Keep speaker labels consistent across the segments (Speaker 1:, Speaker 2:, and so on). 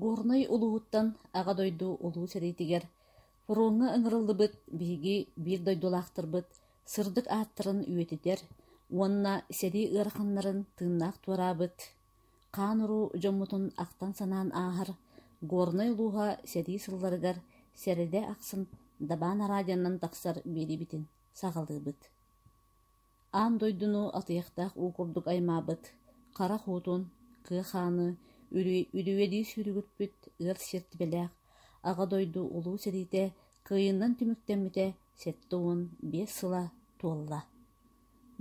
Speaker 1: Горнай улууһуттан Аҕа дойду Улуу сэриитигэр фроҥҥа ыҥырыллыбыт биһиги биир дойдулаахтарбыт сырдык ааттарын үйэтитэр уонна сэрии ыараханнарын тыыннаах туораабыт, хаан-уруу дьоммутун ахтан-санаан ааһар Горнай улууһа сэрии сылларыгар сэрэдэ ахсын дабаан араадьаннан тахсар биэрибитин саҕалыыбыт Аан дойдуну атыйахтаах уу курдук аймаабыт хара хуутун, кыа хааны үлүүйэлии сүүрүгүппүт ыар сиэртибэлээх Аҕа дойду Улуу сэриитэ кыайыынан түмүктэммитэ сэттэ уон биэс сыла туолла.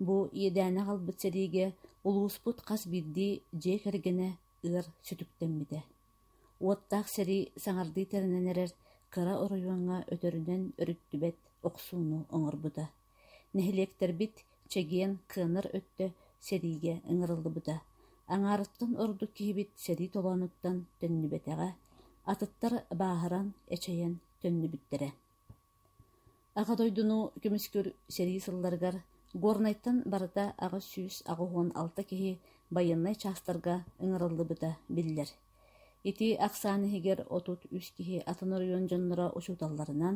Speaker 1: Бу иэдээнэ аҕалбыт сэриигэ улууспут хас биирдии дьиэ кэргэнэ ыар сүтүктэммитэ. Уоттаах сэрии саҥардыы тэринэн эрэр кыра оройуоҥҥа өтөрүнэн өрүттүбэт охсууну оҥорбута. Нэһилиэктэрбит чэгиэн, кыанар өттө сэриигэ ыҥырыллыбыта, аҥаарыттан ордук киһибит сэрии толоонуттан төннүбэтэҕэ, атыттар бааһыран, эчэйэн төннүбүттэрэ. Аҕа дойдуну көмүскүүр сэрии сылларыгар Горнайтан барыта аҕыс сүүс аҕыс уон алта киһи байыаннай чаастарга ыҥырыллыбыта биллэр. Ити ахсаан иһигэр отут-үс киһи атын оройуон дьонноро учууталларынан,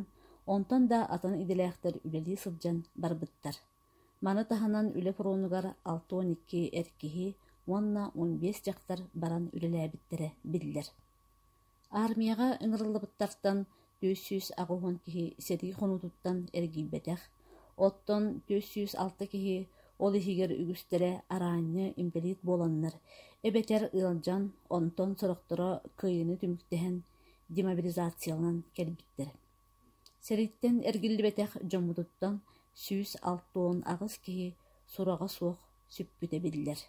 Speaker 1: онтон да атын идэлээхтэр үлэлии сылдьан барбыттар. Маны таһынан үлэ фронугар алта уон икки эр киһи уонна он биэс дьахтар баран үлэлээбиттэрэ биллэр. Аармыйаҕа ыҥырыллыбыттартан Түөрт сүүс аҕыс киһи сэрии хонуутуттан эргийбэтэх, оттон түөрт сүүс алта киһи, ол иһигэр үгүстэрэ араанньы инбэлиит буоланнар, эбэтэр ыалдьан, онтон сорохторо кыайыыны түмүктэһэн, демобилизацияланан кэлбиттэр. Сэрииттэн эргиллибэтэх дьоммутуттан сүүс алта уон аҕыс киһи сураҕа суох сүппүтэ биллэр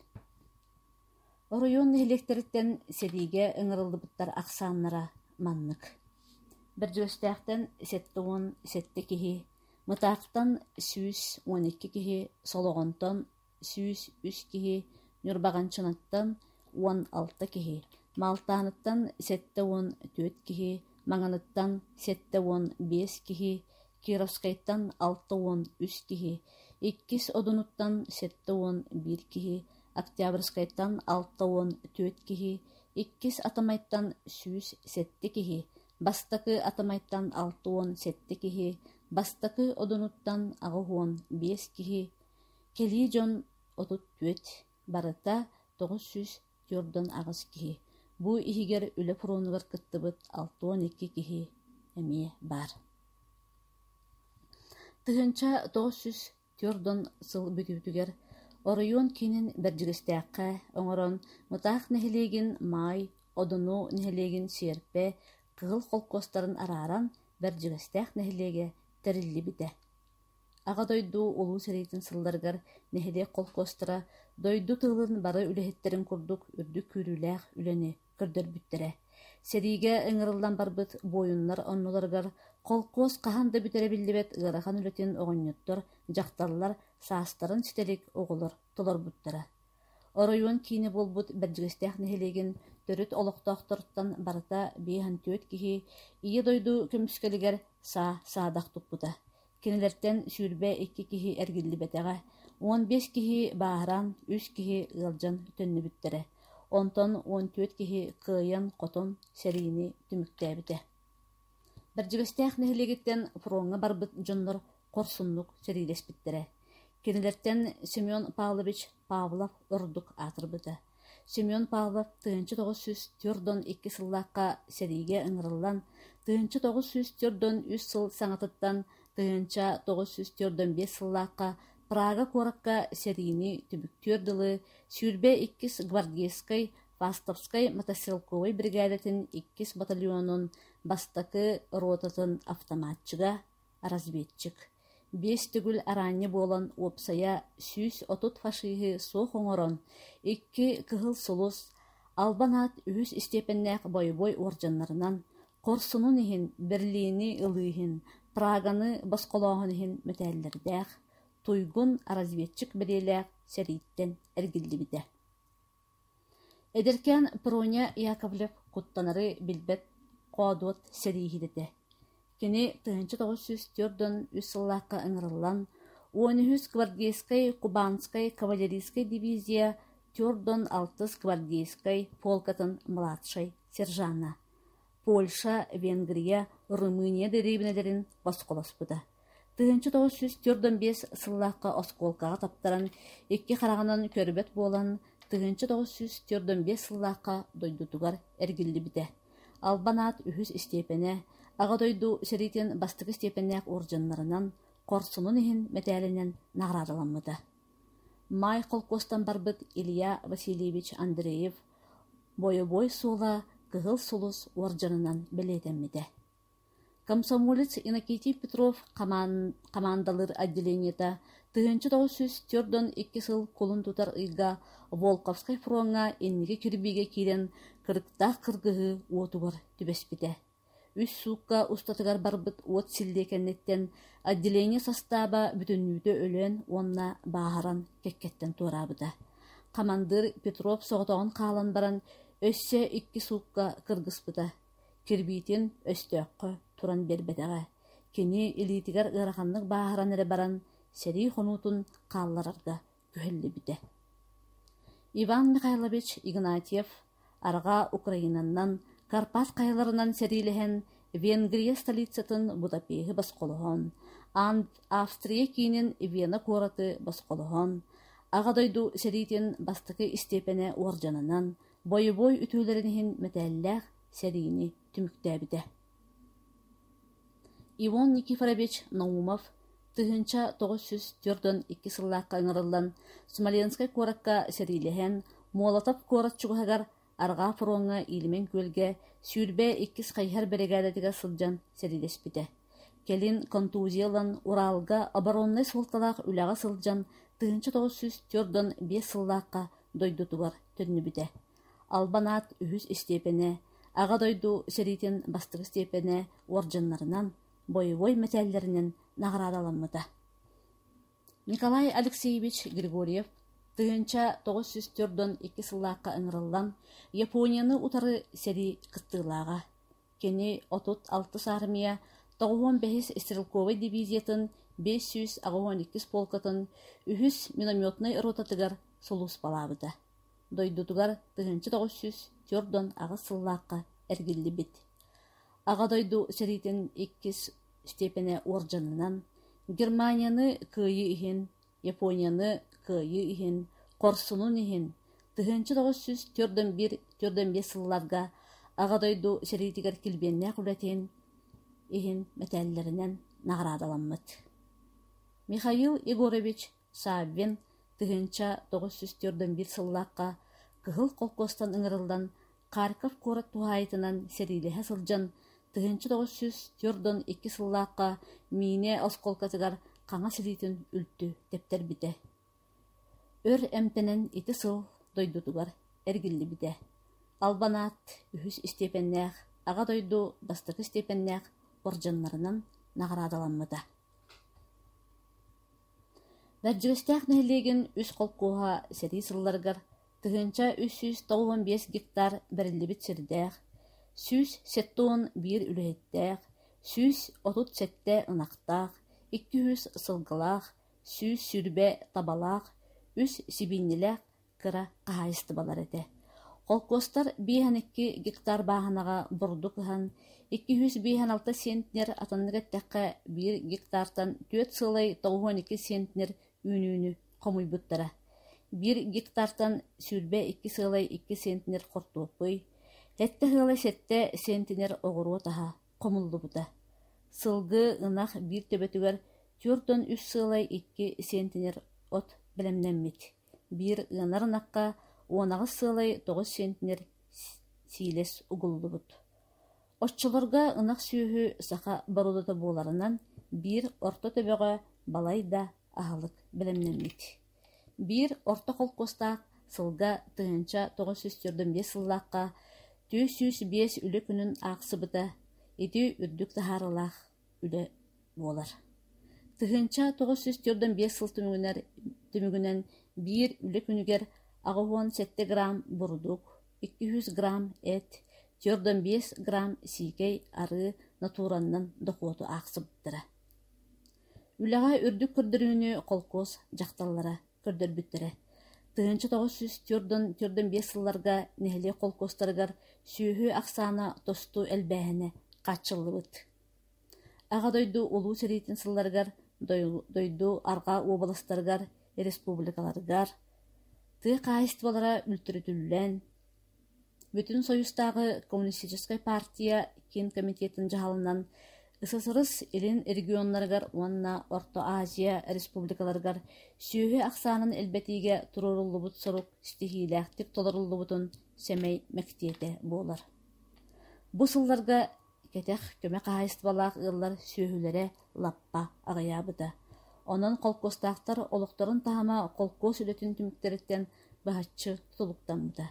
Speaker 1: Оройуон нэһилиэктэриттэн сэриигэ ыҥырыллыбыттар ахсааннара маннык: Бэрдьигэстээхтэн сэттэ уон сэттэ киһи, Мытаахтан сүүс уон икки киһи, Солоҕонтон сүүс үс киһи, Ньурбаҕанчынаттан уон алта киһи, Малтааныттан сэттэ уон түөрт киһи, Маҥаныттан сэттэ уон биэс киһи, Кировскайтан алта уон үс киһи, иккис Одунуттан сэттэ уон биир киһи, Октябрьскайтан алта уон түөрт киһи, иккис атамайтан сүүс сэттэ киһи, бастакы атамайтан алта уон сэттэ киһи, бастакы одунуттан аҕыс уон биэс киһи, кэлии дьон отут түөрт, барыта тоҕус сүүс түөртэн аҕыс киһи, бу иһигэр үлэ фронугар кыттыбыт алта уон икки киһи эмиэ баар. тыһыынча тоҕус сүүс Түөрт-он сыл бүтүүтүгэр оройуон киинин Бэрдьигэстээххэ оҥорон Мытаах нэһилиэгин Маай, Одуну нэһилиэгин Сиэрпэ, Кыһыл холкуостарын арааран Бэрдьигэстээх нэһилиэгэ тэриллибитэ. Аҕа дойду Улуу сэриитин сылларыгар нэһилиэк холкуостара дойду тылын бары үлэһиттэрин курдук үрдүк күүрүүлээх үлэни көрдөрбүттэрэ. Сэриигэ ыҥырыллан барбыт буойуннар оннуларыгар холкуос хаһан да бүтэрэ биллибэт ыарахан үлэтин оҕонньоттор, дьахталлар, саастарын ситэлик оҕолор толорбуттара. Оройуон киинэ буолбут Бэрдьигэстээх нэһилиэгин төрүт олохтоохторуттан барыта биэс төрт киһи Ийэ дойду көмүскэлигэр саа саадах туппута. Кинилэртэн сүүрбэ икки киһи эргиллибэтэҕэ, уон биэс киһи бааһыран, үс киһи ыалдьан төннүбүттэрэ, онтон уон түөрт киһи кыайан-хотон сэриини түмүктээбитэ. Бэрдьигэстээх нэһилиэгиттэн фроҥҥа барбыт дьоннор хорсуннук сэриилэспиттэрэ. Кинилэртэн Семен Павлович Павлов ордук аатырбыта Семен Павлов тыһыынча тоҕус сүүс түөрт уон икки сыллаахха сэриигэ ыҥырыллан, тыһыынча тоҕус сүүс түөрт уон үс сыл саҥатыттан тыһыынча тоҕус сүүс түөрт уон биэс сыллаахха Прага куоракка сэриини түмүктүүр дылы сүүрбэ иккис гвардейскай фастовскай мотострелковай биригээдэтин иккис батальонун бастакы ротатын автоматчига, Разведчик, биэс төгүл араанньы буолан уопсайа сүүс отут фашиһы суох оҥорон, икки кыһыл сулус, албан аат үһүс истиэпэннээх бойобуой уордьаннарынан, хорсунун иһин, Берлини ылыы иһин, Праганы босхолооһун иһин мэтээллэрдээх, туйгун разведчик бэлиэлээх сэрииттэн эргиллибитэ Эдэркээн Проня Яковлев куттанары билбэт хоодуот сэрииһит этэ. Кини тыһыынча тоҕус сүүс түөрт уон үс сыллаахха ыҥырыллан уон үһүс гвардейскай кубанскай кавалерийскай дивизия төрт уон алтыс гвардейскай полкатын младшай сержана Польша, Венгрия, Румыния дэриэбинэлэрин босхолоспута. Тыһыынча тоҕус сүүс төрт уон биэс сыллаахха оскуолкаҕа таптаран, икки хараҕынан көрбөт буолан, тыһыынча тоҕус сүүс төрт уон биэс сыллаахха дойдутугар эргиллибитэ. Албан аат үһүс истиэпэнэ, Аҕа дойду сэриитин бастакы истиэпэннээх уордьаннарынан, хорсунун иһин мэтээлинэн наҕараадаламмыта. Маай холкуостан барбыт Илья Васильевич Андреев Бойобуой суола Кыһыл Сулус уордьанынан бэлиэтэммитэ. Комсомолец Иннокентий Петров хамаандалыыр отделениета тыһыынча тоҕус сүүс түөрт уон икки сыл кулун тутар ыйга Волковскай фроҥҥа инники кирбиигэ киирэн кырыктаах кыргыһыы уотугар түбэспитэ Үс суукка устатыгар барбыт уот силиэкэнниттэн отделение састааба бүтүннүүтэ өлөөн уонна бааһыран кэккэттэн туораабыта. Хамандыыр Петров соҕотоҕун хаалан баран, өссө икки суукка кыргыспыта. Кирбиитин өстөөххө туран биэрбэтэҕэ. Кини илиитигэр ыараханнык бааһыран эрэ баран, сэрии хонуутун хаалларарга күһэллибитэ Иван Михайлович Игнатьев арҕаа Украинанан Карпас хайаларынан сэриилэһэн Венгрия столицатын Будапеһы босхолоһон Австрия киинин Вена куораты босхолоһон Аҕа дойду сэриитин бастакы истиэпэнэ уордьанынан бойобуой үтүөлэрин иһин мэтээллээх сэриини түмүктээбитэ Иван Никифорович Наумов тыһыынча тоҕус сүүс түөрт уон икки сыллаахха ыҥырыллан Смоленскай куоракка сэриилэһэн, Молотов куорат чугаһыгар Арҕаа фроҥҥа Ильмень күөлгэ сүүрбэ иккис хайыһар биригээдэтигэр сылдьан сэриилэспитэ. Кэлин контузия ылан Уралга обороннай суолталаах үлэҕэ сылдьан тыһыынча тоҕус сүүс түөрт уон биэс сыллаахха дойдутугар төннүбүтэ. Албанаат үһүс истиэпэнэ, Аҕа дойду сэриитин бастакы истиэпэнэ орденнарынан, боевой мэтээллэринэн наҕараадаламмыта. Николай Алексеевич Григорьев тыһыынча тоҕус сүүс төрдөн икки сыллаахха ыҥырыллан Японияны утары сэрии кыттыылааҕа. Кини отут алтыс аармыйа тоҕуһуон бэһис стрелковай дивизиятын биэс сүүс аҕыһыан иккис полкатын үһүс минометнай ротатыгар сулууспалаабыта. Дойдутугар тыһыынча тоҕус сүүс түөрт уон аҕыс сыллаахха эргиллибит Аҕа дойду сэриитин иккис степенэ уордьанынан Германияны кыайыы иһин, Японияны кыайыы иһин, Хорсунун иһин тыһыынча тоҕус сүүс түөрт уон биир түөрт уон биэс сылларга Аҕа дойду сэриитигэр килбиэннээх үлэтин иһин мэтээллэринэн наҕараадаламмыт. Михаил Егорович Саввин, тыһыынча тоҕус сүүс түөртэн биир сыллаахха Кыһыл холкуостан ыҥырыллан, Харьков куорат туһаайытынан сэриилэһэ сылдьан, тыһыынча тоҕус сүүс түөртэн икки сыллаахха миинэ оскуолкатыгар хаҥас илиитин үлтү тэптэрбитэ. Өр эмтэнэн ити сыл дойдутугар эргиллибитэ. Албанаат үһүс истиэпэннээх Аҕа дойду бастакы истиэпэннээх бордьуннарынан наҕараадаламмыта Бэрдьигэстээх нэһилиэгин үс холкуоһа сэрии сылларыгар тыһыынча үс сүүс тоҕус уон биэс гектар бэриллибит сирдээх, сүүс сэттэ уон биир үлэһиттээх, сүүс отут сэттэ ынахтаах, икки үһүс сылгылаах, сүүс сүүрбэ табалаах, үс сибиинньэлээх кыра хаһаайыстыбалар этэ. Холкуостар биэһэн икки гектар бааһынаҕа бурдук ыһан, икки сүүс биэһэн алта сиэнтнер атыннык эттэххэ, биир гектартан түөрт сыылай тоҕуһуон икки сиэнтнер үүнүүнү хомуйбуттара. Биир гектартан сүүрбэ икки сыылай икки сиэнтнер хортуоппуй, сэттэ сыылай сэттэ сиэнтнер оҕуруот аһа хомуллубута. Сылгы, ынах биир төбөтүгэр түөрт уон үс сыылай икки сиэнтнер от бэлэмнэммит. Биир ыанар ынахха уонаҕас сыалай тоҕус сиэнтинэр сиилэс угуллубут. Оччолорго ынах сүөһү саха бородуута буоларынан, биир орто төбөҕө балай да аһылык бэлэмнэммит. Биир орто холкуостаах сылга тыһыынча тоҕус сүүс төрдүн биэс сыллаахха түөрт сүүс биэс үлэ күнүн аахсыбыта ити үрдүк таһаарыылаах үлэ буолар. Тыһыынча тоҕус сүүс түөртүн биэс сыл түмүгүнэн, түмүгүнэн биир үлэ күнүгэр аҕа уон сэттэ грамм бурдук, икки жүз грамм эт, түөртэн биэс грамм сиикэй, арыы натураннан дохуоту аахсыбыттара. Үлэҕэ үрдүк көрдөрүүнү холкуос дьахталлара көрдөрбүттэрэ. Тыһыынча тоҕус сүүс түөртэн түөртэн биэс сылларга нэһилиэк холкуостарыгар сүөһү ахсаана тосту элбээһинэ хааччыллыбыт. Аҕа дойду Улуу сэриитин сылларыгар дойду Арҕаа уобаластарыгар, республикаларыгар тыа хаһаайыстыбалара үлтүрүтүллэн, Бүтүн Союзтааҕы коммунистическай партия киин комитетын дьаһалынан ССРС Илин регионнарыгар уонна Орто Азия республикаларыгар сүөһү ахсаанын элбэтиигэ туруоруллубут сорук ситиһиилээхтик толоруллубутун сэмэй мэктиэтэ буолар. Бу сылларга Кэтэх көмө хаһаайыстыбалаах ыаллар сүөһүлэрэ лаппа аҕыйаабыта, онон холкуостаахтар олохторун таһыма холкуос үлэтин түмүктэриттэн быһаччы тутулуктаммыта,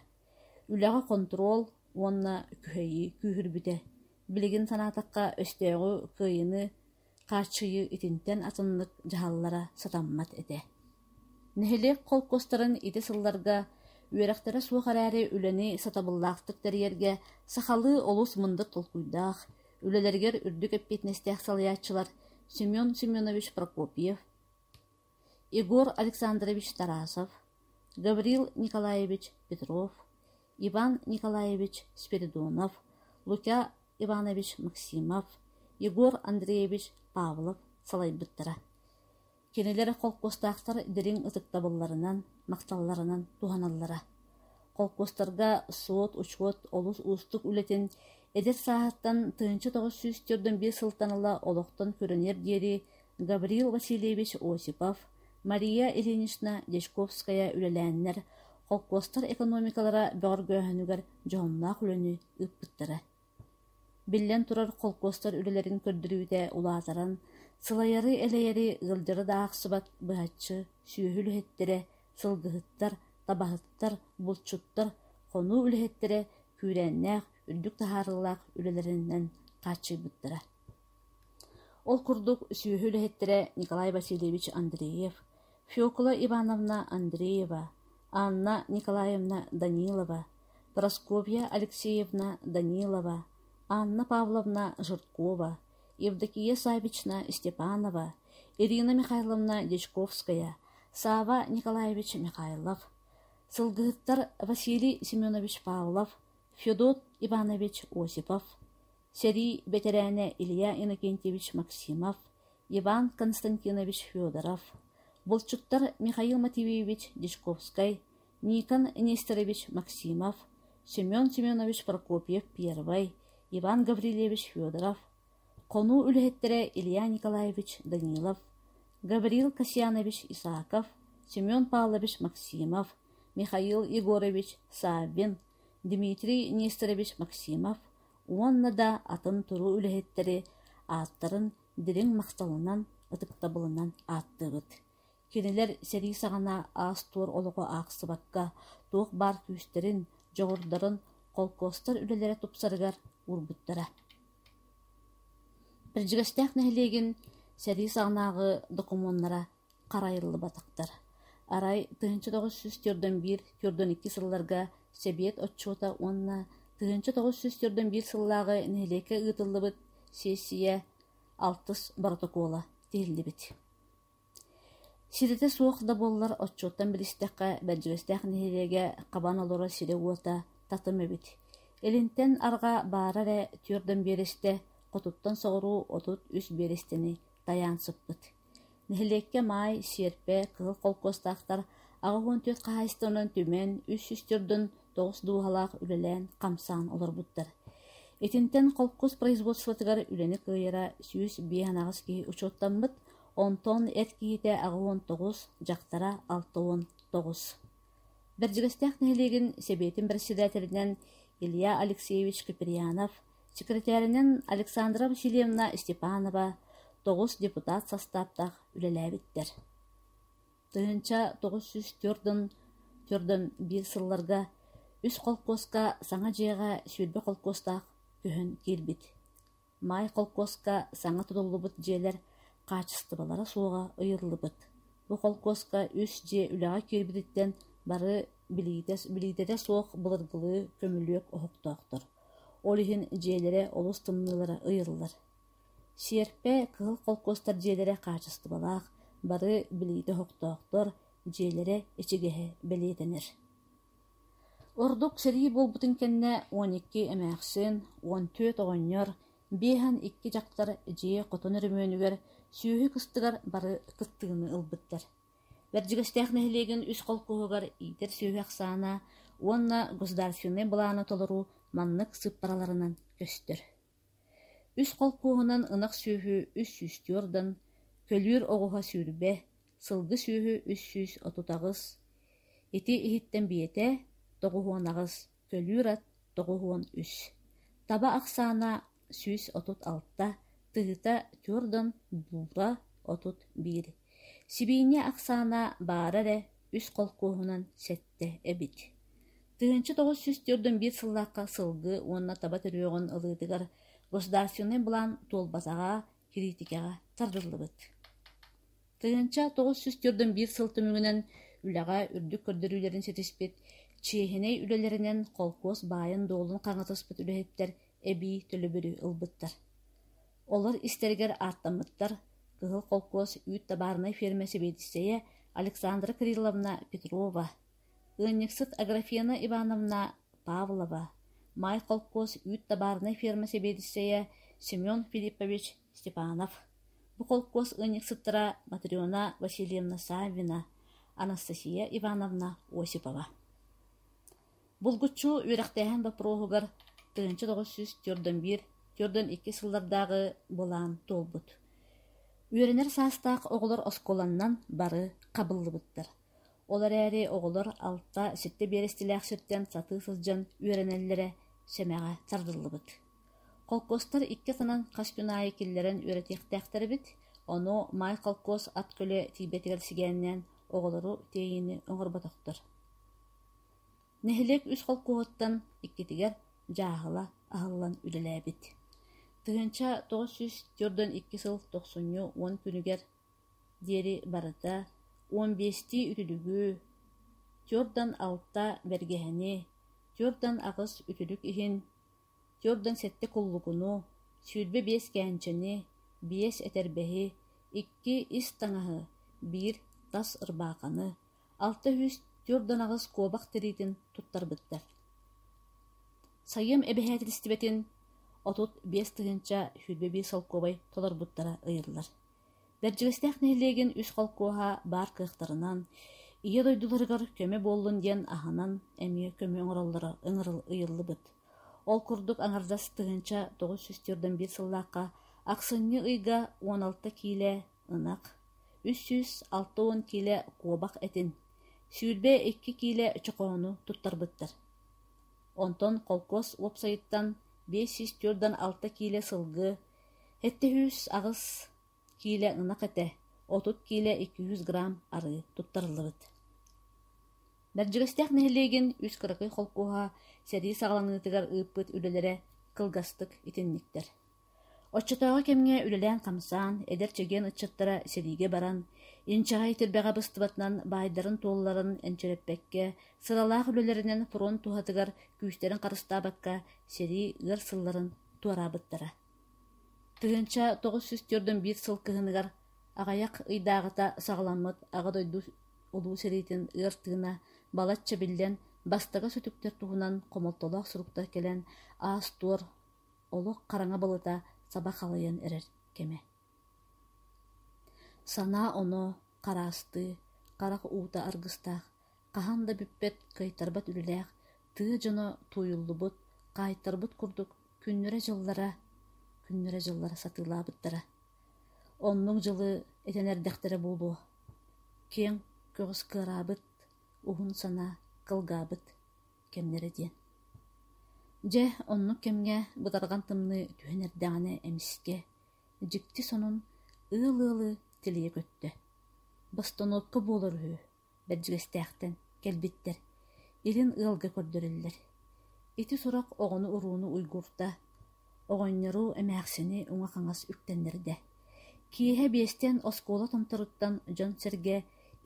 Speaker 1: үлэҕэ хонтуруол уонна күһэйии күүһүрбүтэ. Билигин санаатахха, өстөөҕү кыайыыны Хааччыйыы итинтэн атыннык дьаһаллара сатаммат этэ. Нэһилиэк холкуостарын ити сылларга үөрэхтэрэ суох эрээри үлэни сатабыллаахтык тэрийэргэ сахалыы олус мындыр толкуйдаах, үлэлэригэр үрдүк эппиэтинэстээх салайааччылар Семен Семенович Прокопьев, Егор Александрович Тарасов, Гаврил Николаевич Петров, Иван Николаевич Спиридонов, Лукя Иванович Максимов, Егор Андреевич Павлов салайбыттара. Кинилэр холкуостаахтар дириҥ ытыктабылларынан, махталларынан туһаналлара. Холкуостарга суот-учуот олус уустук үлэтин эдэр сааһыттан тыһыынча тоҕус сүүс төрдөн биэс сылтан ыла олохтон көрүнэр диэри Гаврил Васильевич Осипов, Мария Ильинична Дьячковская үлэлээннэр холкуостар экономикалара бөҕөргөөһүнүгэр дьоһуннаах үлэни ыыппыттара. Биллэн турар, холкуостар үлэлэрин көрдөрүүтэ улаатаран, сылайары-элэйэри ыалдьара да аахсыбат быһаччы сүөһү үлэһиттэрэ, сылгыһыттар, табаһыттар, булчуттар, хонуу үлэһиттэрэ күүрээннээх, үрдүк таһаарыылаах үлэлэринэн хааччыйбыттара. Ол курдук сүөһү үлэһиттэрэ Николай Васильевич Андреев, Фекла Ивановна Андреева, Анна Николаевна Данилова, Прасковья Алексеевна Данилова, Анна Павловна Жиркова, Евдокия Савична Степанова, Ирина Михайловна Дьячковская, Сава Николаевич Михайлов, сылгыһыттар Василий Семенович Павлов, Федот Иванович Осипов, сэрии бэтэрээнэ Илья Иннокентьевич Максимов, Иван Константинович Федоров, булчуттар Михаил Матвеевич Дежковскай, Никон Нестерович Максимов, Семен Семенович Прокопьев Первый, Иван Гаврильевич Федоров, хонуу үлэһиттэрэ Илья Николаевич Данилов, Гаврил Касьянович Исаков, Семен Павлович Максимов, Михаил Егорович Саввин, Дмитрий Нестерович Максимов, уонна да атын туруу үлэһиттэри ааттарын дириҥ махталынан, ытыктабылынан ааттыыбыт. Кинилэр сэрии саҕана аас-туор олоҕу аахсыбакка, туох баар күүстэрин, дьоҕурдарын холкуостар үлэлэрэ тупсарыгар уурбуттара. Бэрдьигэстээх нэһилиэгин сэрии саҕанааҕы докумуоннара харайыллыбатахтар. Арай тыһыынча тоҕус сүүс түөртөн биир түөртэн икки сылларга Сэбиэт отчуота уонна тыһыынча тоҕус сүүс түөртэн биир сыллааҕы нэһилиэккэ ыытыллыбыт сиэссийэ алтыс боротокуола тиһиллибит. Ситэтэ суох да буоллар отчуоттан билистэххэ Бэдьигэстээх нэһилиэгэ хабан олорор сирэ-уота татым эбит. Илинтэн арҕаа баара эрэ түөртэн биэрэстэ, хотуттан соҕуруу отут үс биэрэстэни тайаан сыппыт. Нэһилиэккэ Маай, Сиэрпэ, Кыһыл холкуостаахтар аҕыс уон түөрт хаһаайыстыбанан түмэн, үс сүүс төрдүн тоҕус дууһалаах үлэлээн, хамсаан олорбуттар. Итинтэн холкуос производствотыгар үлэни кыайара сүүс биэс анаҕас киһи учуоттаммыт, онтон эр киһитэ аҕыс уон тоҕус, дьахтара алта уон тоҕус. Бэрдьигэстээх нэһилиэгин Сэбиэтин председателинэн Илья Алексеевич Куприянов Сэкирэтээринэн Александра Васильевна Степанова тоҕус депутат састааптаах үлэлээбиттэр. Тыһыынча тоҕус сүүс төрдүн төрдөн биир сылларга үс холкуоска саҥа дьиэҕэ сүүрбэ холкуостаах көһөн киирбит. Маай холкуоска саҥа тутуллубут дьиэлэр хаачыстыбалара суоҕа ыйыллыбыт. Бу холкуоска үс дьиэ үлэҕэ киирбититтэн бары билиитэ билиитэ суох былыргылыы көмүлүөк оһохтоохтор Ол иһин дьиэлэрэ олус тымныылара ыйыллар. Сиэрпэ, кыһыл холкуостар дьиэлэрэ хаачыстыбалаах, бары билиитэ оһохтоохтор, дьиэлэрэ ичигэһэ бэлиэтэнэр. Ордук сэрии буолбутун кэннэ уон икки эмээхсин, уон түөрт оҕонньор, биэс уон икки дьахтар дьиэ хотун өрөмүөнүгэр, сүөһү кыстыгар бары кыттыыны ылбыттар. Бэрдьигэстээх нэһилиэгин үс холкуоһугар иитэр сүөһү ахсаана уонна государственнай былааны толоруу маннык сыыппараларынан көстөр: үс холкуоһунан ынах сүөһү үс сүүс түөрдан, көлүүр оҕуһа сүүрбэ, сылгы сүөһү үс сүүс отут аҕыс, ити иһиттэн биэтэ тоҕуһуон аҕыс, көлүүр ат тоҕус уон үс, таба ахсаана сүүс отут алта, тыһыта түөрдөн буута отут биир, сибиинньэ ахсаана баара эрэ үс холкуоһунан сэттэ эбит. Тыһыынча тоҕус сүүс түөрдэн биир сыллаахха сылгы уонна таба төрүөҕүн ылыытыгар государственнай былаан туолбатаҕа Кириитикэҕэ тардыллыбыт. Тыһыынча тоҕус сүүс төрдүн биир сыл түмүгүнэн үлэҕэ үрдүк көрдөрүүлэрин ситиспит, чиэһинэй үлэлэринэн холкуос баайын-дуолун хаҥатыспыт үлэһиттэр эбии төлөбүрү ылбыттар. Олор истэригэр ааттаммыттар Кыһыл холкуос үүт табаарынай фиэрмэ сэбиэдиссэйэ Александра Кирилловна Петрова, Ыанньыксыт Аграфена Ивановна Павлова, Маай холкуос үүт табаарынай ферма сэбиэдиссэйэ Семен Филиппович Степанов, бу холкуос ыанньыксыттара Матрена Васильевна Саввина, Анастасия Ивановна Осипова. Булгуччу үөрэхтээһин боппуруоһугар тыһыынча тоҕус сүүс түөртөн биир түөртөн икки сыллардааҕы былаан туолбут. Үөрэнэр саастаах оҕолор оскуоланнан бары хабыллыбыттар. Ол эрээри оҕолор алта, сэттэ биэрэстэлээх сиртэн сатыы сылдьан үөрэнэллэрэ сэмэҕэ сарыллыбыт. Холкуостар икки атынан хас күн аайы киллэрэн үөрэтиэхтээхтэр эбит, ону Маай холкуос ат көлө тиийбэтигэр сигэннээн оҕолору тиэйиини оҥорботохтор. Нэһилиэк үс холкуоһуттан иккитигэр дьааһыла аһыллан үлэлээбит. Тыһыынча тоҕус сүүс төрдөн икки сыл тохсунньу уон күнүгэр диэри барыта уон биэстии үтүлүгү, туордан алта бэргэһэни, туордан аҕыс үтүлүк иһин, туордан сэттэ куллугуну, сүүрбэ биэс кээнчэни, биэс этэрбэһи, икки ис таҥаһы, биир тас ырбааханы, алта үһүс туордан аҕыс куобах тириитин туттарбыттар. Сайыам эбэһээтилистибэтин отут биэс тыһыынча сүүрбэ биир солкуобай толорбуттара ыйыллар Бэрдьигэстээх нэһилиэгин үс холкуоһа баар кыахтарынан, Ийэ дойдуларыгар көмө буоллун диэн аһынан эмиэ көмө оҥороллоро ыйыллыбыт. Ол курдук аҥардас тыһыынча тоҕус сүүс түөртэн биир сыллаахха ахсынньы ыйга уон алта киилэ ынах, үс сүүс алта уон киилэ куобах этин, сүүрбэ икки киилэ чохоону туттарбыттар. Онтон холкуос уопсайыттан биэс сүүс түөртэн алта киилэ сылгы, Эттэ үс аҕыс киилэ ынах этэ, отут киилэ икки yüз грамм арыы туттарыллыбыт Бэрдьигэстээх нэһилиэгин үс кыракый холкуоһа сэрии саҕаланыытыгар ыыппыт үлэлэрэ кылгастык итинниктэр. Оччотооҕу кэмҥэ үлэлээн-хамсаан, эдэр чэгиэн ыччаттара сэриигэ баран, инчэҕэй тирбэҕэ быстыбатынан баайдарын туолларын энчирэппэккэ, сыралаах үлэлэринэн фронт туһатыгар күүстэрин харыстаабакка, сэрии ыар сылларын туораабыттара. Тыһыынча тоҕус сүүс түөртүн биир сыл кыһыныгар аҕыйах ыйдааҕыта саҕаламмыт Аҕа дойду Улуу сэриитин ыар тыына балачча биллэн, бастакы сүтүктэр туһунан хомолтолоох суруктар кэлэн, аас-туор, олох хараҥа балыта саба халайан эрэр кэмэ. Санаа-оноо, хараастыы, харах уута аргыстаах, хаһан да бүппэт, кыайтарбат үлэлээх, тыа дьоно туойуллубут, хаайтарбыт курдук күннэрэ-дьыллара күннэрэ-дьыллара сатыылаабыттара. Оннук дьылы этэн эрдэхтэрэ буолуо, киэҥ көҕүс кыараабыт, уһун санаа кылгаабыт кэмнэрэ диэн. Дьэ, оннук кэмҥэ бытарҕан тымныы түһэн эрдэҕинэ эмискэ дьикти сонун ыал-ыалы тилийэ көттө: «Босторуопка буолар үһү, Бэрдьигэстээхтэн кэлбиттэр, илин ыалга көрдөрөллөр». Ити сурах оҕону-урууну уйгурта, оҕонньору, эмээхсини уҥа-хаҥас үктэннэрдэ. Киэһэ биэстэн оскуола томторуттан дьон-сэргэ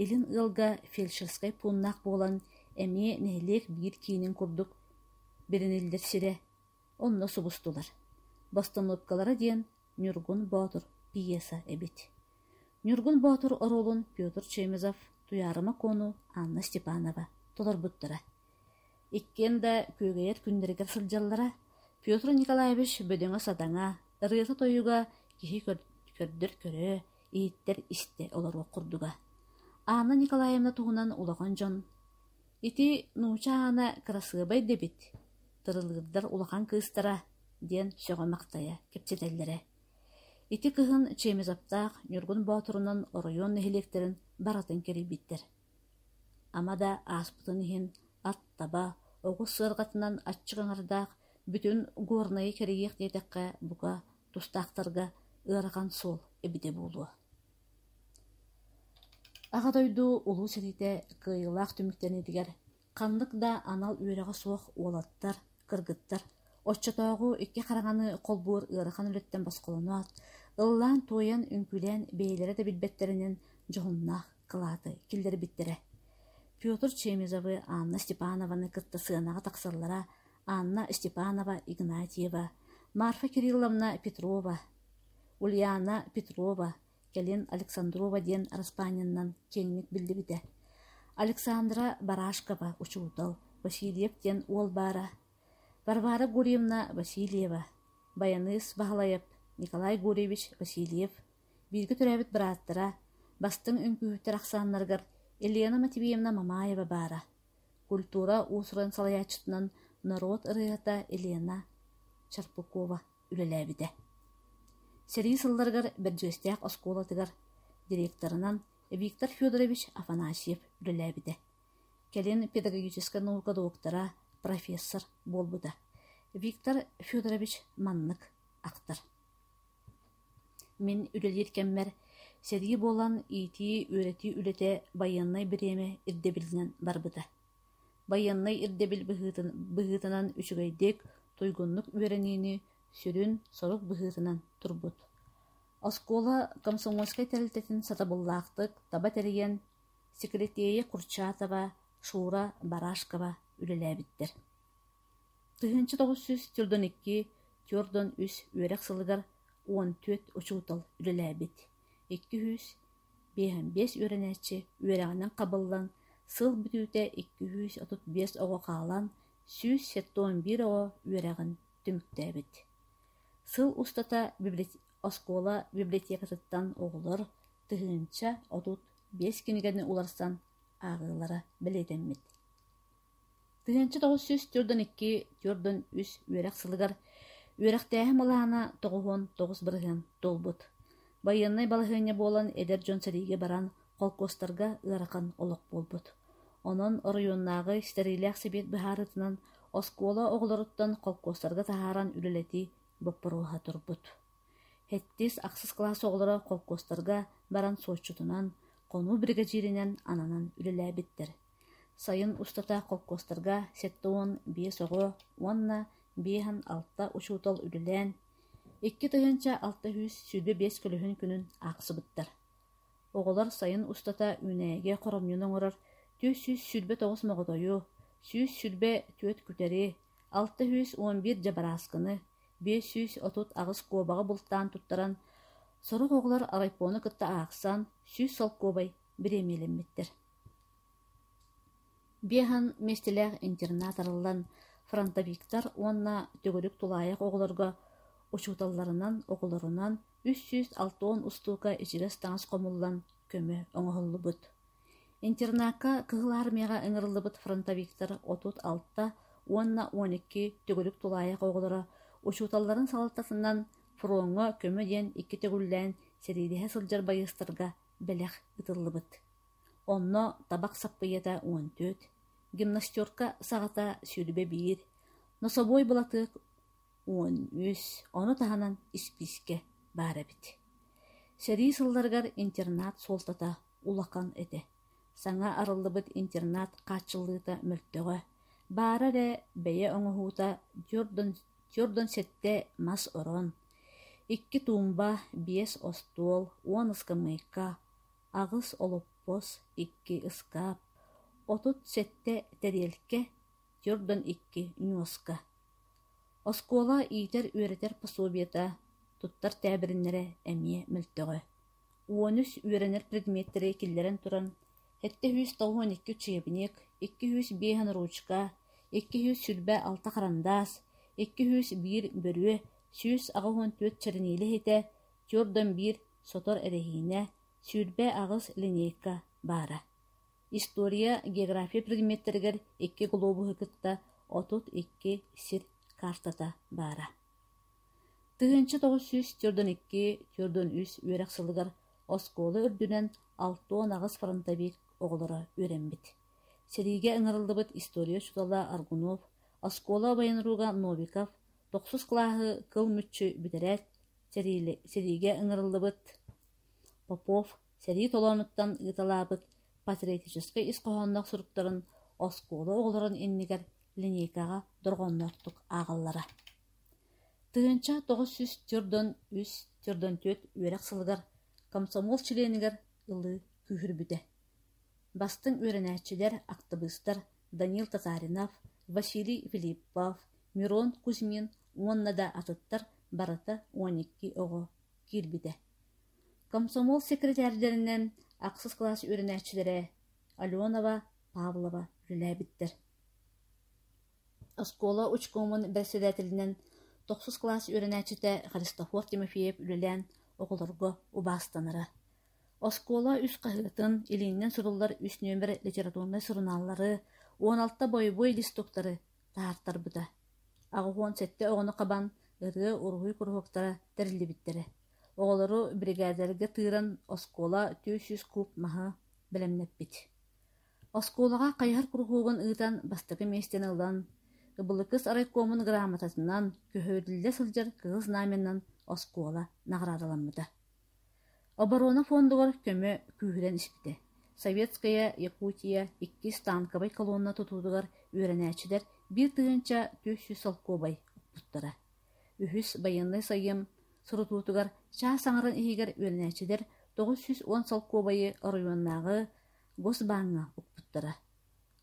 Speaker 1: илин ыалга фельдшерскай пууннаах буолан, эмиэ нэһилиэк биир киинин курдук бириниллэр сирэ Онно субустулар. Бостонуопкалара диэн Ньургун Боотур пьеса эбит. Ньургун Боотур оруолун Петр Чемезов, Туйаарыма Куону, Анна Степанова толорбуттара. Иккиэн да күөгэйэр күннэригэр сылдьаллара. Петр Николаевич бөдөҥө-сатаҥа, ырыата-тойуга киһи көрдөр-көрө, иһиттэр-истэ олоруох курдуга. Анна Николаевна туһунан улахан дьон Ити нууча аана кырасыабай да эбит, тырылыырдар улахан кыыстара, диэн сөҕө-махтайа кэпсэтэллэрэ. Ити кыһын Чемизовтаах Ньургун Боотурунан оройуон нэһилиэктэрин барытын кэрийбиттэр. Ама да ааспытын иһин ат таба, оҕус сыарҕатынан аччык аҥардаах бүтүн Горнайы кэрийиэх диэтэххэ, бука, тустаахтарга ыарахан суол эбитэ буолуо Аҕа дойду Улуу сэриитэ кыайыылаах түмүктэниитигэр ханнык да анал үөрэҕэ суох уолаттар, кыргыттар оччотооҕу икки хараҥаны холбуур ыарахан үлэттэн босхолоноот, ыллаан-туойан, үҥкүүлээн бэйэлэрэ да билбэттэринэн дьоһуннаах кылааты киллэрбиттэрэ. Петр Чемизовы, Анна Степанованы кытта сыанаҕа тахсаллара Анна Степанова Игнатьева, Марфа Кирилловна Петрова Ульяна Петрова, кэлин Александрова диэн араспаанньаннан киэҥник биллибитэ. Александра Барашкова, учуутал, Васильев диэн уол баара. Варвара Гурьевна Васильева, байаныыс Баһылайап Николай Гурьевич Васильев, бииргэ төрөөбүт бырааттара, бастыҥ үҥкүүһүттэр ахсааннарыгар Елена Матвеевна Мамаева баара. Культура уус-уран салайааччытынан норуот ырыаһыта Елена Черпукова үлэлээбитэ. Сэрии сылларыгар Бэрдьиэстээх оскуолатыгар директорынан Виктор Федорович Афанасьев үлэлээбитэ. Кэлин педагогическай наука доктора, профессор буолбута. Виктор Федорович маннык ахтар. Мин үлэлиир кэммэр сэрии буолан иитии-үөрэтии үлэтэ байыаннай бириэмэ ирдэбилинэн барбыта. байыаннай ирдэбил быһыытынан үчүгэйдик, туйгуннук үөрэниини сүрүн сорук быһыытынан турбут. Оскуола комсомольскай тэрилтэтин сатабыллаахтык таба тэрийэн, сикирэтиэйэ Курчатова, Шура Барашкова үлэлээбиттэр. Тыһыынча тоҕус сүүс төрдөн икки, төрдөн үс үөрэх сылыгар он төрт учуутал үлэлээбит, икки үһүс Биэһэмбиэс үөрэнээччи үөрэҕинэн хабыллан, сыл бүтүүтэ икки сүүс отут биэс оҕо хаалан, сүүс сэттэ уон биир оҕо үөрэҕин түмүктээбит. Сыл устата оскуола библиотекатыттан оҕолор тыһыынча отут биэс кинигэни уларсан ааҕыылара бэлиэтэммит Тыһыынча тоҕус сүүс түөртүн икки түөртүн үс үөрэх сылыгар үөрэхтээһин былаана тоҕуһун тоҕус бырыһыан туолбут. Байыаннай балаһыанньа буолан эдэр дьон сэриигэ баран холкуостарга ыарахан олох буолбут. Онон оройуоннааҕы ситэриилээх сэбиэт быһаарыытынан оскуола оҕолоруттан холкуостарга таһааран үлэлэтии боппуруоһа турбут. Сэттис-ахсыс кылаас оҕолоро холкуостарга баран суотчутунан, хонуу биригэдьииринэн ананан үлэлээбиттэр. Сайын устата холкуостарга сэттэ уон биэс оҕо уонна биэһэн алта учуутал үлэлээн, икки тыһыынча алта сүүс сүүрбэ биэс көлөһүн күнүн аахсыбыттар. Оҕолор сайын устата үүнээйигэ хоромньуну оҥорор түөрт сүүс сүүрбэ тоҕус моҕотойу, сүүс сүүрбэ түөрт күтэри, алта сүүс уон биир дьабарааскыны, биэс сүүс отут аҕыс куобаҕы бултаан туттаран, сорох оҕолор райпону кытта аахсан, сүүс солкуобай бириэмиэлэммиттэр. Биэһэн миэстэлээх интернат арыллан фронтовиктар уонна төгүрүк тулаайах оҕолорго учууталларынан, оҕолорунан үс сүүс алтан устуука ичигэс-таҥас хомуллан көмө оҥоһуллубут. Интернакка Кыһыл Армияҕа ыҥырыллыбыт фронтовиктар отут алта уонна он икки төгүрүк тулаайах оҕолоро учууталларын салалтатынан фроҥҥа көмө диэн икки төгүллээн сэриилэһэ сылдьар байыастарга бэлэх ыытыллыбыт Онно табах саппыйата уон түөрт, гимнастерка саҕата сүүрбэ биир, нособуой былатыак уон үс, ону таһынан испиискэ баар эбит. Сэрии сылларыгар интернат суолтата улахан этэ, саҥа арыллыбыт интернат хааччыллыыта мөлтөҕө, баара эрэ бэйэ оҥоһуута түөрт уон сэттэ мас орон, икки туумба, биэс остуол, уон ыскамыайка, аҕыс олоппос, икки ыскаап, отут сэттэ тэриэлкэ, Йордан икки ньуоска. Оскуола иитэр-үөрэтэр пособиета, туттар тээбириннэрэ эмиэ мөлтөҕө. Уон үс үөрэнэр предметтэри киллэрэн туран, сэттэ сүүс тоҕуон икки учебник, икки сүүс биэс анаручка, икки сүүс сүүрбэ алта харандаас, икки сүүс биир бөрүө, сүүс аҕыс уон түөрт чэрэниилэ иһитэ, Түөрдан биир сотор эрэһиинэ, сүүрбэ аҕыс линейка баара. История, география предметтэригэр икки глобуһу кытта отут икки сир каартата баара. Тыһыынча тоҕус сүүс төрдөн икки төрдөн үс үөрэх сылыгар оскуола үрдүнэн алта уон аҕыс фронтобиир оҕолоро үөрэммит. Сэриигэ ыҥырыллыбыт история учуутала Аргунов, оскуола байанруга Новиков, Тохсус кылааһы кыл мүччү бүтэрээт, сэриигэ ыҥырыллыбыт Попов сэрии толоонуттан ыыталаабыт патриотическай ис хоһоонноох суруктарын оскуола оҕолорун иннигэр линейкаҕа дорҕоонноохтук ааҕаллара. Тыһыынча тоҕус сүүс төрдөн үс төрдөн түөрт үөрэх сылыгар комсомол чилиэнигэр ылыы күүһүрбүтэ. Бастыҥ үөрэнээччилэр, актыбыыстар Данил Татаринов, Василий Филиппов, Мирон Кузьмин уонна да атыттар барыта он икки оҕо киирбитэ Комсомол сэкирэтээрдэринэн ахсыс кылаас үөрэнээччилэрэ Аленова Павлова үлэлээбиттэр Оскуола учкомун бэрэссэдээтэлинэн тохсус кылаас үөрэнээччитэ Христофор Тимофеев үлэлээн оҕолорго убаастанара Оскуола үс хаһыатын, илииннэн суруллар үс нүөмэр литературнай сурунааллары, он алта бойобуой листуктары таһаартарбыта, аҕыһуон сэттэ оҕону хабан, ырыа, уруһуй куруһуоктара тэриллибиттэрэ. Оҕолору биригээдэлэргэ тыыран оскуола түөрт сүүс кууб маһы бэлэмнэппит. Оскуолаҕа хайыһар куруһуогун ыытан бастакы миэстэни ылан, Ыбылыкыс райкомун грамотатынан, көһөрүллэ сылдьар Кыһыл Знаменынан оскуола наҕараадаламмыта. Оборона фондугар көмө күүһүрэн испитэ, Советская Якутия иккис танковай колонна тутуутугар үөрэнээччилэр биир тыһыынча түөрт сүүс солкуобай укпуттара, үһүс байыаннай сайын сурутуутугар чаас аҥарын иһигэр үөрэнээччилэр тоҕус сүүс уон солкуобайы оройуоннааҕы Госбааҥҥа укпуттара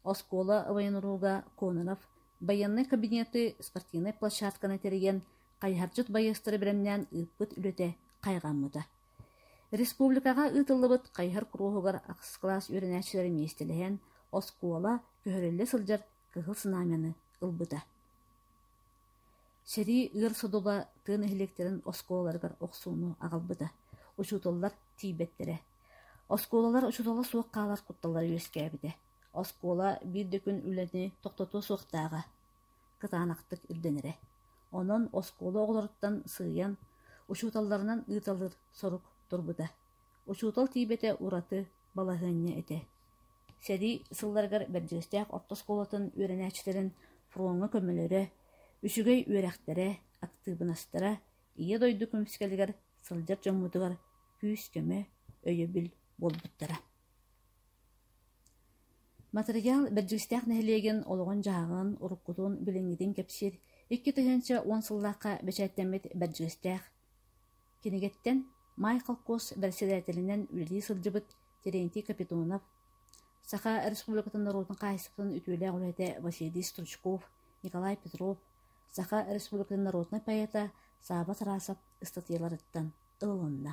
Speaker 1: Оскуола военруга Кононов байыаннай кабинеты спортивнай площадканы тэрийэн, хайыһардьыт байыастары бэлэмнээн ыыппыт үлэтэ хайҕаммыта. Республикаҕа ыытыллыбыт хайыһар куруһугар ахсыс кылаас үөрэнээччилэрэ миэстэлэһэн, оскуола көһөрүллэ сылдьар кыһыл сынамяны ылбыта. Сэрии ыар судула тыа нэһилиэктэрин оскуолаларыгар охсууну аҕалбыта, учууталлар тиийбэттэрэ. Оскуолалар учуутала суох хаалар кутталлара үөскээбитэ. Оскуола биир да күн үлэни тохтотуо суохтааҕа кытаанахтык ирдэнэрэ. Онон оскуола оҕолоруттан сыыйан, учууталларынан ыытыллар сорук турбута Учуутал тиийбэтэ ураты балаһыанньа этэ, сэрии сылларыгар Бэрдьиэстээх орто оскуолатын үөрэнээччилэрин фроҥҥа көмөлөрө, үчүгэй үөрэхтэрэ, актыыбынастара Ийэ дойду көмүскэлигэр сылдьар дьоммутугар күүс-көмө, өйөбүл буолбуттара. Матырыйаал Бэрдьиэстээх нэһилиэгин олоҕун-дьаһаҕын, уруккутун, билиҥҥитин кэпсиир икки тыһыынча уон сыллаахха бэчээттэммит Бэрдьиэстээх Кинигэттэн Майкл Косс бэрэссэдээтэлинэн үлэлии сылдьыбыт Терентий Капитонов, Саха Республикатын норуотун хаһаайыстыбатын үтүөлээх үлэһитэ Василий Стручков, Николай Петров, Саха Республикатын норуотунай поэта Сааба Тарасов ыстатыйаларыттан ылылынна.